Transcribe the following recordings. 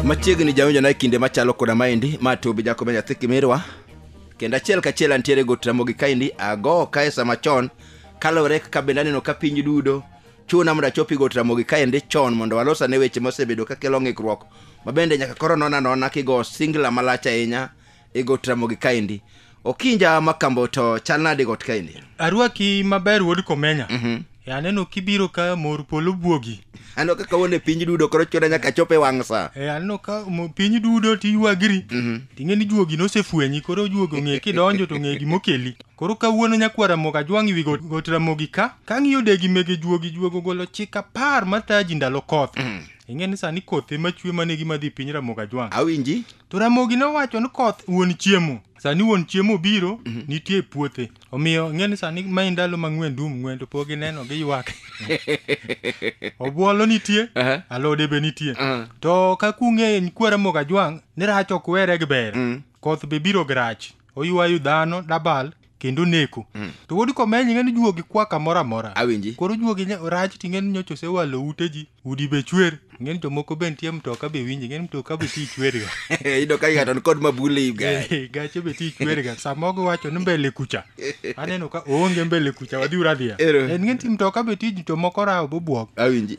machiegni jawinjo na e kinde machalo koda maendi ma tobi jakobe nyathi kimirwa kendo achiel kachiel antiere go tramogi kaendi ago kae sama chon kalore kaka bende aneno ka piny dudo chuna mondo achopi go tramogi kaendi chon mondo walos ane weche mosebedo kakelo ng'ikruok ma bende nyaka koro nona nona kigo singla malach ahinya e got ramogi kaendi okinja makambo to chal nade got kaendi arwaki maber wuod komenya mm-hmm. e aneno kibiro ka mor polo buogi aneno ka kawone piny dudo koro chuna nyaka chop e wang' sa e aneno ka piny dudo tiywagri mm-hmm. ting'e ni juogi nosefwenyi koro juogi ong'e kidonjo to ng'e gimokeli koro kawuono nyakwar ramogi ajwang' iwi got ramogi ka kang'iyo degi mege juogi juogo golo chik apar mataji ndalo koth mm-hmm. ing'e ni sani koth ema chwe mane gima dhi piny ramogi ajwang' awinji To Ramogi nowacho ni koth wuon chiemo. Sani wuon chiemo biro, nitie e puothe. Omiyo ing'e ni sani mae ndalo ma ng'wen dum ng'wen to pok gineno giywak. Obuolo nitie, Aha. alode be nitie. Aha. To ka kung'e en kwa Ramogi Ajwang' ni rach ok were gi ber. Koth be biro gi rach. Oywayo dhano dabal kendo neko Mm. to wuod komenyi ng'eni juogi kwa kamoro amora awinji koro juogi nya- rach ti ng'eni nyocha osewalo ute ji udi be chwer ng'eni jomoko be nitie mtoka be winji ng'eni mtoka be ti chwerga ido ka ng'ato ni kod mabule ibga Eh, gache be ti chwerga samogo wacho ni mbele kucha aneno ka oonge mbele kucha wadhi uradhiya Ero. en ng'eni ti mtoka be ti jomoko rawo bobwok awinji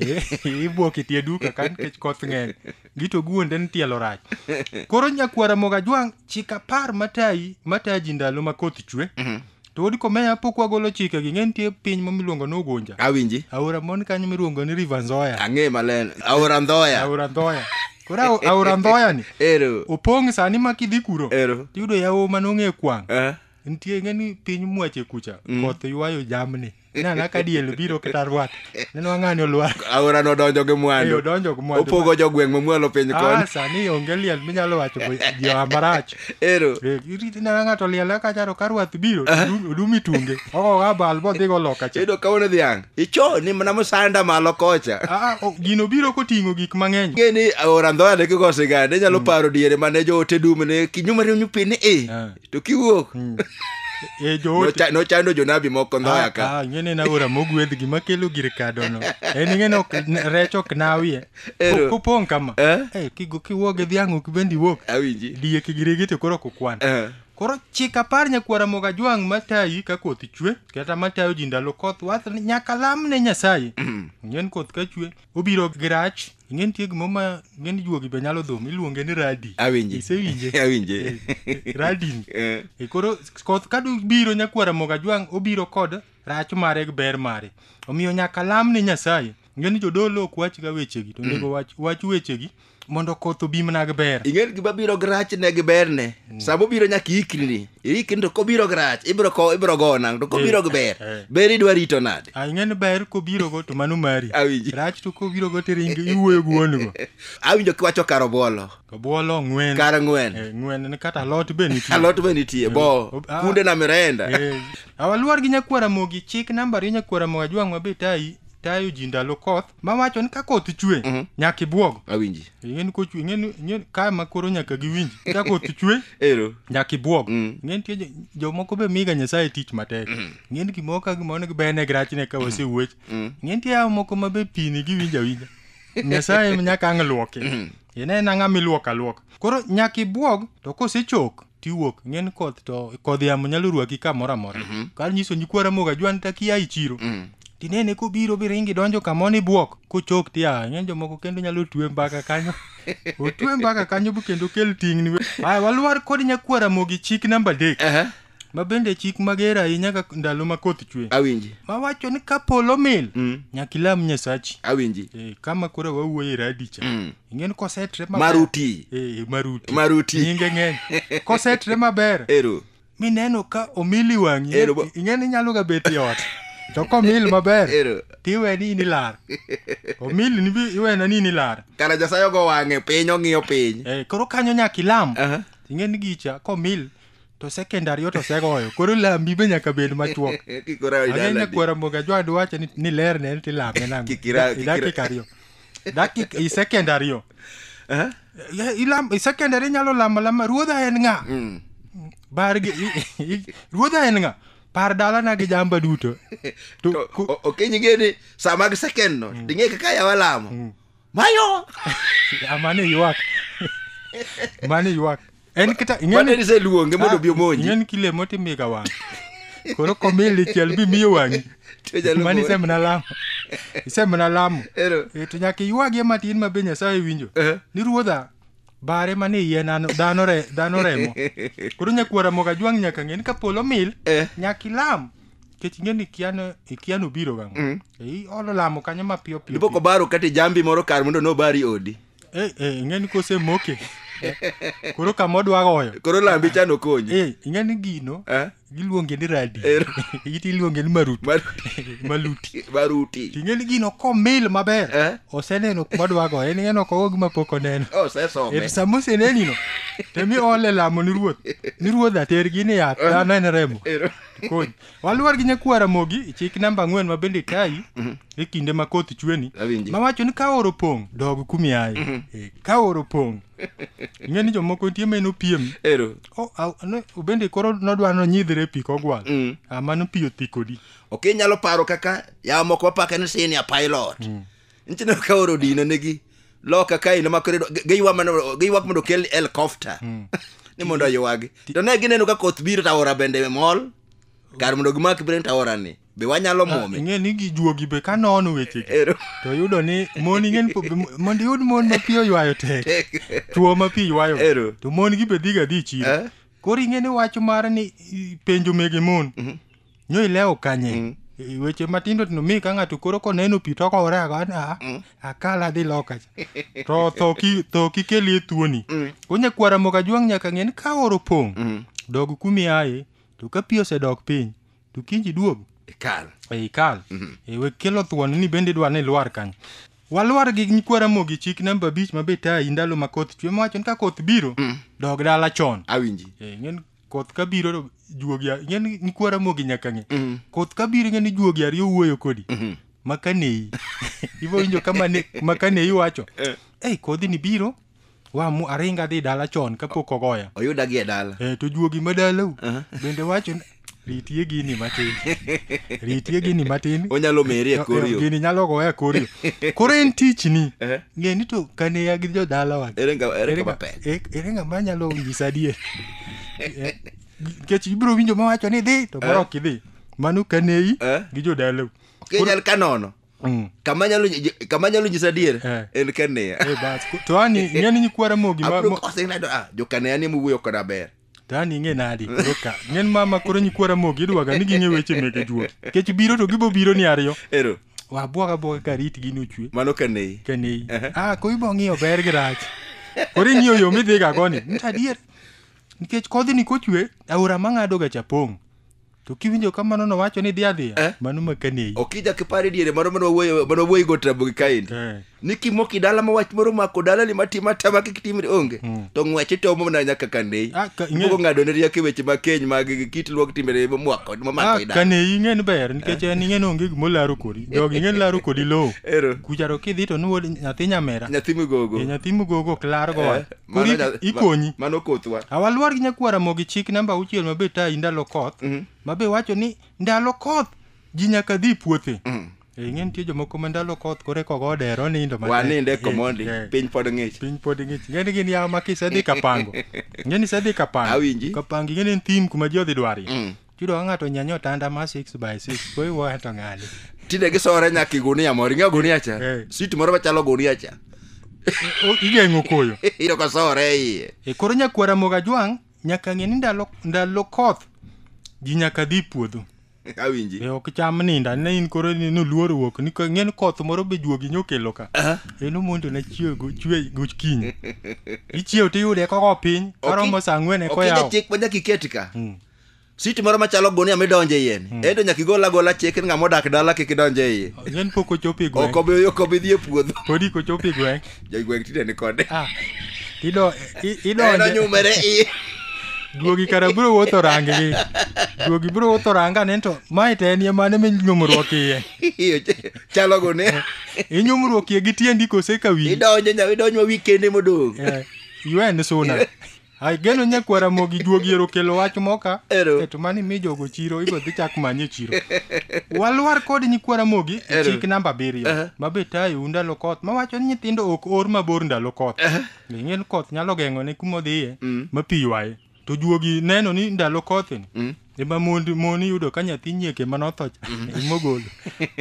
ibwok itie duka ka nikech koth ng'eny gito guonde ni tielo rach koro nyakwara moga jwang' chik apar matayi matayi ji ndalo ma koth chwe to wod komeya pok wagolo chike gi ng'e nitie piny ma miluongo ni ugunja awinji aora mon kanyo miluongo ni river nzoya ang'e maleno aora ndhoya aora ndhoya koro ao- aora ndhoya ni ero opong' sani ma kidhi kuro ero tiyudo yawo ma nong'e kwang' Eh. nitie ng'e ni piny mwache kucha koth ywayo jamni Inana ka diel biro kata rwat. Neno ang'ani olwar. Aora no donjo gi mwandu. Eyo donjo gi mwandu. Opogo jo gweng' mamualo piny ah, koni. Ah, sani onge liel minyalo wacho jo amarach. Ero. Eh, Iriti na ng'ato liel ka charo ka rwath biro ah. odumi tunge. Ogo ga bal bo dhigo loka cha. Edo kaone dhiang'. Icho ni mana musanda malo kocha. Ah, ah gino biro koting'o gik mang'eny. Ngeni aora ndhoya ne kigo sigande nyalo mm. paro diere mane jo ote dum ne kinyuma riu nyupini e. to kiwuok Mm. Eh, joote. nocha- nochando jonabi moko ndhoya ka Ah, ah, ing'e ni en aora mogwedh gima kelo gir kadono en ing'e ni ok- n- rech ok nawie Ero. Po- popong' kama Eh? Eh, kigo- kiwuok gi dhiang' ok bende iwuok awinji diek gi rege to koro ok okwan Eh, koro chik apar nyakwara moga jwang' matayi ka koth chwe kata matayo ji ndalo koth wath ni nyaka lam ne nyasaye ng'en koth ka chwe obiro gi rach ing'e nitie gimo ma ng'e ni juogi be nyalo dhum iluonge ni radi awinje isewinje awinje radin Eh, E koro koth ka biro nyakwara moga jwang' obiro kod rach mare gi ber mare omiyo nyaka lam ne nyasaye ngeni jodolo ok wach ga wechegi to ndego wach, wach wechegi mondo koth obi mana gi ber ing'e ni gima biro gi rachne gi berne sama obiro nyaka iikri Irikni to kobiro gi rach, ibiro ko ibiro go nang' to kobiro gi ber. Eh, eh. Ber idwa rito nade? Ah, ing'e ni ber kobiro go to mano mari. Awinji. Rach to kobiro go tiringi iwuoyo gi wuon go. Awinjo kiwacho kar obuolo. Obuolo ng'wen. Kar ng'wen. Eh, ng'wen ni kata alot be nitie. Alot be nitie. Bo. Eh, ah. Kunde na mirenda. Eh. Awaluor gi nyakwara mogi chik namba ri nyakwara moga jwang'wa be tayi tayo ji ndalo koth. mawacho ni ka koth chwe Mhm. nyaka ibwog awinji ing'eni kochwe ing'eni ing'eni ka ma koro nyaka giwinj ka koth chwe ero nyaka ibwog Mm. ing'eni nitie jo- jomoko be miga nyasaye tich matek ing'eni gimoro ka gimoro ne gibene gi rachne ka wasewuoch Mm. ing'eni nitie yawo moko ma be pini giwinjo awinja nyasaye nyaka ang' luoki inena ng'ama iluoko aluoka koro nyaka ibwog to kosechok tiwuok ng'en koth to kodh yamo nyalo rwaki kamoro amora Mhm. kar nyiso nyikwara moga jwan takia i chiro Mm. tinene kobiro biringi donjo kamo ni bwok kochok tia ng'eny jomoko kendo nyalo twe mbaka kanyo otwe mbaka kanyo bu kendo kel tingni we. aya walwar kod nyakwara mogi chik namba adek Aha, ma bende chik mager ahinya ka ndalo ma koth chwe awinji ma wacho ni ka polo mil Mm. nyaka ilam nyasachi awinji Eh, kama koro wawuoye radicha Mm. ing'eni kosetre maber- Maruti. Eh, maruti Maruti. nyinge ng'eny kosetre maber ero mineno ka omili wang'i Ero ba- ing'eni inyalo ga bet e ot to komil maber Ero. tiwe ni in ilar omili ni bi- iwena ni in ilar kara nyasaye ogo wang'e piny ong'iyo piny Eh, koro kanyo nyaka ilam Aha. ing'eni gicha komil to second ariyo to segoyo koro lambi be nyaka bed machuok Kik ora- Agenda idaladi. kwara moga jwadu wacho ni, ni ler ne tilame nang. Kikira- kikira- dakika ariyo. dakik i secondary yo Eh? Ya, ilam- i secondary inyalo lamo lama ruodha en ng'a Mm. bar gi i- i- ruodha en ng'a par dalana gi jamba duto To To- ku- o- ok inyinge ni saa mag second no ding'e kaka yawa lamo mayo amane ywak mane ywak en kata ing'eni- Mane niseluonge mondo obi omonji. Ah, ing'eni kile motimiga wang' koro komil dichiel bimiyo wang'i To nyalo mani monji. isemna lamo isemna lamo Ero. Eh, to nyaka iywagie matin ma be nyasaye winjo Eh. ni ruodha bare mane iye nano- dhano re- dhano remo koro nyakwara moga jwang' nyaka ng'e ni ka polo mil Eh. nyaka ilam kech ing'e ni kiano ikiano biro gang' iolo lamo kanyo mapiyo piyo Dipo kobaro kata jambi moro kar mondo nobari odi. Eh, eh, ing'e ni kosemoke koro kama odwa goyo koro lambi cha nokonyi Eh, ing'e ni gino Eh? giluonge ni radi Eh. iti iluonge ni maruti Mar- maluti baruti ting'e ni gino komil maber Eh? oseneno kuma dwa goyo en ing'e ni ok ogo gima pok oneno Oh, osesome En sama osenenino temi ole lamo ni ruoth ni ruoth atergi ni yath dhano en remo Ero. Kony. waluor gi nyakwar ramogi chik namba ang'wen ma bende tayi e kinde ma koth chweni Awinji. ma wacho ni ka oro pong' dog kumiaye Eh, ka oro pong' ing'e ni jomoko nitie ma en opiem ero O- a- ne- bende koro nodwa nonyidhre e pi kogwal Mm. Ah, mano pi othi kodi ok inyalo paro kaka yawa moko wapake ni senior pilot nchine ka oro dino negi loka ka ino makore giywak mana giywak mondo kel helicopter ni mondo oywagi to ne gineno ka koth biro to aora bende mol kar mondo gimak biro to aora ni be wanyalo muome ing'e ni gijuogi be ka nono weche gi Ero. to yudo ni mon ing'e ni po- m- mondo iyud mon ma pi oywayo tek Tek. chuo ma pi ywayo Ero. to mon gi be dhiga dhi chiro Eh? koro ing'e ni wach mar ni i- penjo mege mon nyo ilewo kanye mm. E, weche matindo tindo mi ka ng'ato koro koneno pi to kowore ago ni ah, mm. akala adhi loka cha to tho ki tho kikelie tuoni mm. onya kwara moka juang nyaka ng'e ni ka oro pong mm. dog kumi aye to ka pi osedok piny to kinji duog ikal e ikal mm -hmm. e we kelo thuon ni bende dwa ni lwar kanyo walwar gi nyikwara mogi chik namba abich ma be tayi ndalo ma koth chwe mowacho ni ka koth biro mm. dog dala chon awinji e, koth ka biro to juogi a- ing'e ni ni kwara mogi nyaka ng'e Mm. koth ka biro ing'e ni juogi ariyo wuoyo kodi Mhm. makaneyi ibo winjo kama ne makaneyi wacho Eh. ei kodhi ni biro wamu aringa adhi dala chon kapok ogoya oyuda gi e dala e to juogi ma dalau Aha. bende wacho ni, ritie gini matin ritie gini matin onyalo meri e kor yo gini nyalo goya e kor yo koro en tichni Eh. ng'e ni to kane ya gi jodalawa ere nga- ere kama pek e- ere ng'ama nyalo nyisa adier Eh, nikech ibiro winjo mawacho ni dhi to koro ok idhi mano kaneyi Eh. gi jodalau kenyal kanono Mm. kama nyalo nyi- kama nyalo nyisa adier Eh. en kaneya Eh, bas. Ko- to ani ng'e ni nyikwara mogi ma- abro mo- kose ng'ado ah jokaneya ni mowuoyo koda ber Tani ing'e nadi? Koro ka. Ng'en mama koro nyikwa Ramogi idwaga ni ging'e weche mege juot. Kech biro to gibo biro ni ariyo. Ero, Wabwaga abwaga ka rit gini ochwe. mano ka nei. Kanei. Ah, koro ibo ng'iyo ber gi rach. Koro ing'iyo yo midhiga goni. Nta adier. Nikech kodhini kochwe, aora mang'adoga cha pong'. to kiwinjo kamano nowacho ni dhi adhiya Eh? mano makaneyi okija kipare diere mano mane wawuoyo- mane wawuoyi go tabo gi kaendi Eh. ni kimoki dala ma wach moro mako dala ni matima tama kik timri onge to ng'wech itomo mana nyaka kaneyi Ah, ka- ing'e- ipogo ng'ado ne rieko e weche ma keny mag git luok timbere mamwako mamako Ah, i dala kaneyi ing'eni ber nikech en ing'eni onge gimo laro kodi jog ing'eni laro kodi lowo ero kucharo kidhi to nuwod nyathi nyamera nyathi migogo e nyathi mugogo ok largo Eh, Mano Koro nya- ikonyi. ma- mano kothwa awalwar gi nyakwara mogi chik namba auchiel mabe tayi ndalo koth mabe wacho ni ndalo koth ji nyaka dhi puothe Eh, ing'e nitie jomoko ma ndalo koth kore kogo odero nindo matek. waninde Eh, komondi eh, piny pod ng'ich piny pod ng'ich ing'e ni gin yawo ma kisedhi kapango ing'e ni isedhi kapango Awinji. kapango ing'e ni en thim kuma ji odhi dwarie Chudo ka ng'ato nyanyo otanda ma 6 by 6 koro iwuoyo to ng'ani. tinde gisore nyaka i gunia moro ing'eyo gunia cha Eh. sit moro machalo gunia cha O- Igeng'o koyo. iyudo ka sore e iye E koro nyakwara moga jwang' nyaka ng'e ni ndalo ndalo koth ji nyaka dhi puodho. awinji E ok cham ninda ne in koro ni noluor wuok ni ka- ng'en koth moro be juogi nyokelo ka. En omondo na chiew go chwe go kiny. Ichiew tiyude koko piny karomo saa ang'wen e Ok inge koyawo. chik ma nyaka iket ka Mm. sit moro machalo gunia midonjo e iye ni hmm. ento nyaka igol agola chik ni ng'ama odak dala kik idonj e iye then pok ochopo e gweng' ok obi ok obi dhi e puodho pod iko chopo e gweng' jo gweng' tinde ni kode ah ido ido eno nyumere i duogi kara bro wuotho rangi gi duogi bro wuotho ranga ni to mae te en mane mi nyumruok iye chalo go ne inyumruok iye gi tiendi kose ka wi idonjo nya idonjo wi kende modong eh, yuen suna Ai geno nyakwara mogi juogi ero kelo wach moka. Ero. Keto mani mi jogo chiro ibo dhi chak manye chiro. Walwar kod nyikwara mogi e Ero. chik namba abiriyo. Aha. Ma be tayo ndalo koth ma wacho ni nyithindo ok or mabor ndalo koth. Ng'en koth nyalo geng'o ne kuma odhiye ma pi ywaye. To juogi neno ni ndalo koth ni. Mm. Ema mond moni yudo ka nyathi nyieke ma nothocha imogolo.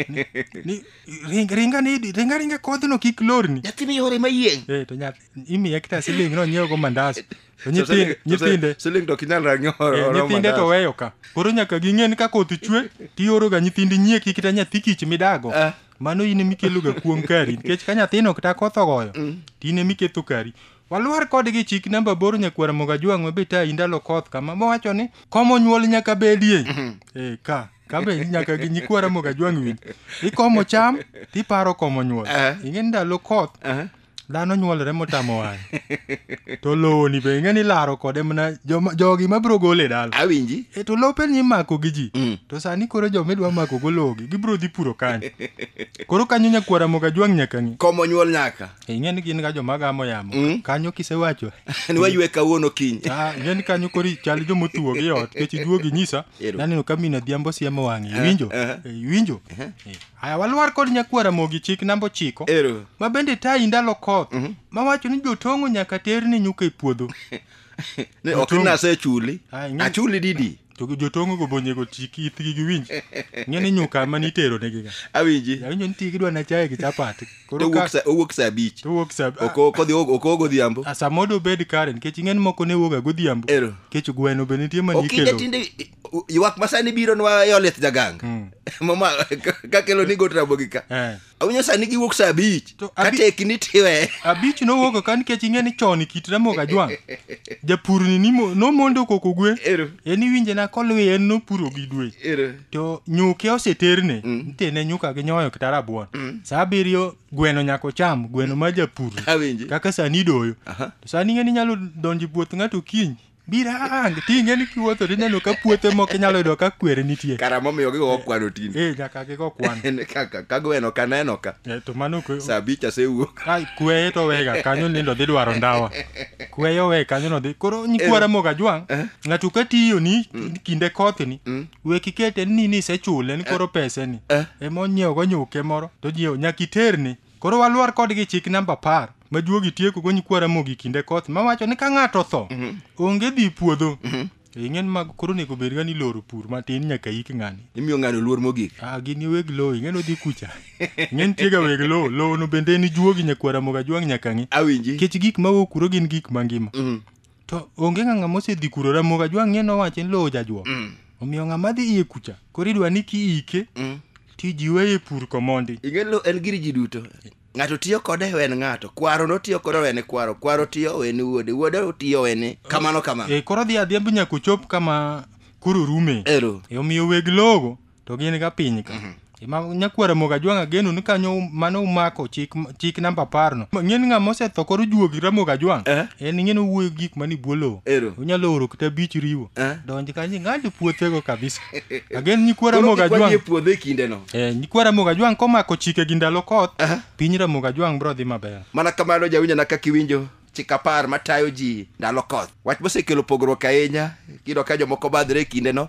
Ni- ni- Ringa ringa ni ringa ringa kodhno kik lorni. Nyathini yore mayieng'. Eh to nyathi imi ya kita siling no nyiewo go mandas To nyithinde nyithinde siling to kinyal ranyo Eh, nyithinde to weyo ka koro nyaka ging'e ni ka koth chwe tioroga nyithindi nyieki kata nyathi kich midago Ah. mano in emikeloga kuom kari nikech ka nyathino kata koth ogoyo to in emiketho kari walwar kodgi chik namba boro nyakwara moga jwang' mabe ta indalo koth kama mowacho ni komo nyuol nyaka bedie Eh, ka kabe nyaka gi nyikwara moga jwang' winj ikomo cham tiparo komo nyuol Ah. ing'e ni ndalo koth dhano nyuolore motamo wang' to lowoni be ing'e ni laro kode mana joma- jogi mabiro gole e dala awinji e to lope ni imako gi ji Mm. to sani koro joma idwa mako go lowogi gibiro dhi puro kanyo koro kanyo nyakwara moga jwang' nyaka ng'i komo nyuol nyaka E, ing'e ni gin ga joma gamo yamo Mm. kanyo kisewacho ni waywe kawuono kiny Ah, ing'e ni kanyo koro chal joma otuwo gi ot kech iduogi nyisa Ero. naneno ka mina dhiambo siemo wang'e iwinjo Eh, eh. Eh, iwinjo Eh. Aya walwar kod nyakwara mogi chik namba ochiko Ero. ma bende tayi ndalo koth ma wacho ni jotong'o nyaka ter ni nyuka e puodho Ni ok Otungu. nase chuli. Ah, ing'e- Achuli didi. to jotong'o go bonyego chik ithgi giwinj ng'e ni nyuka ma nitero negiga Awinji. awinjo ni tigi dwa na chaye gi chapat To koro owuok ka sa owuok sa abich. to wuok sa Ok ok odhi ok ogo odhiambo. a- samodo bed kare nikech ing'e ni moko ne wuoga godhiambo Ero. kech gweno be nitie ma Okinde nikelo tinde U- ywak masani biro nwa yolit jaganga Mm. mama kakelo ni got rabogi ka Eh. awinyo sani giwuok sa abich To abi- kateki ni tiwe abich nowuok ka nikech ing'e ni chon e kit ramogi ajwang' japurni nimo- nomondo koko gwe ero en iwinje na kolwe en nopuro gi dwe ero to nyuke oseterne nitene nyuka gi nyoyo kata rabuon sa abiriyo gweno nyaka ocham gweno ma japur awinji kaka sani idoyo Aha. to sani ing'e ni inyalo donjo e puoth ng'ato kiny Birang, ting'e ni kiwuotho to ineno ka puothe moko inyalo yudo ka kwere nitie. Kara momiyo gigo okwano tinde. Eh, nyaka gigo kwan. En kaka kago eno ka neno ka. Eh, to mano kwe. Saa abich asewuok. Ai, kweye to wega kanyo nindo dhi dwaro ndawa. Kweye owe kanyo no dhi. Koro nyikwara Eh. moga jwang'. Eh. Ng'ato ka tiyo ni kinde koth ni, Mm. we kikete ni ni isechule ni koro pese ni. Eh. Ema onyiewo go nyuke moro to nyiewo nyaka iterni. Koro waluor kodgi chik namba apar majuogi tiekogo nyikwa Ramogi kinde koth mawacho ni ka ng'ato otho mhm. onge dhi puodho mhm. e ing'en mag koro onego bed ga ni loro pur matin nyaka ik ng'ani imiyo ng'ano luor mogik ah gini weg lowo ing'en odhi kucha ing'en tiega weg lowo lowo no bende en juogi nyakwa Ramogi ajwang' nyaka ng'i awinji kech gik mawuok kuro gin gik mangima mhm. to onge ng'a ng'ama osedhi kuro ramoga jwang'ie nowache ni lowo jajwo Mm. omiyo ng'ama dhi iye kucha koro idwa ni kiike Mm. tijiwe e pur komondi ing'e lo en gir ji duto ng'ato tiyo kode wen ng'ato kwaro notiyo kode wen kwaro kwaro tiyo wen wuode wuode tiyo wen kamano kamano e koro dhi adhiambo nyaka ochop kama koro rume ero E, omiyo weg logo to gin ga piny ka Ima- nyakwara moga jwang' ageno ni kanyo um- mano umako chik chik namba apar no ng'en ng'a mosetho koro juogi ramoga jwang' Eh. en ng'en owuoyo gik mani bwo lowo Ero. onyalo oro kata bich riwo Eh. donj kanyo ng'ado puothego kabisa agen nyikwara Koro moga kikwa jwang' nie puodho e kindeno Eh, nyikwa ramoga jwang' komako chike gi ndalo koth Aha. piny ramoga jwang' bro dhi maber mana kamano jawinjana kaka iwinjo chik apar matayo ji ndalo koth wach mosekelo pogruok ahinya kiyudo ka jomoko badhre e kindeno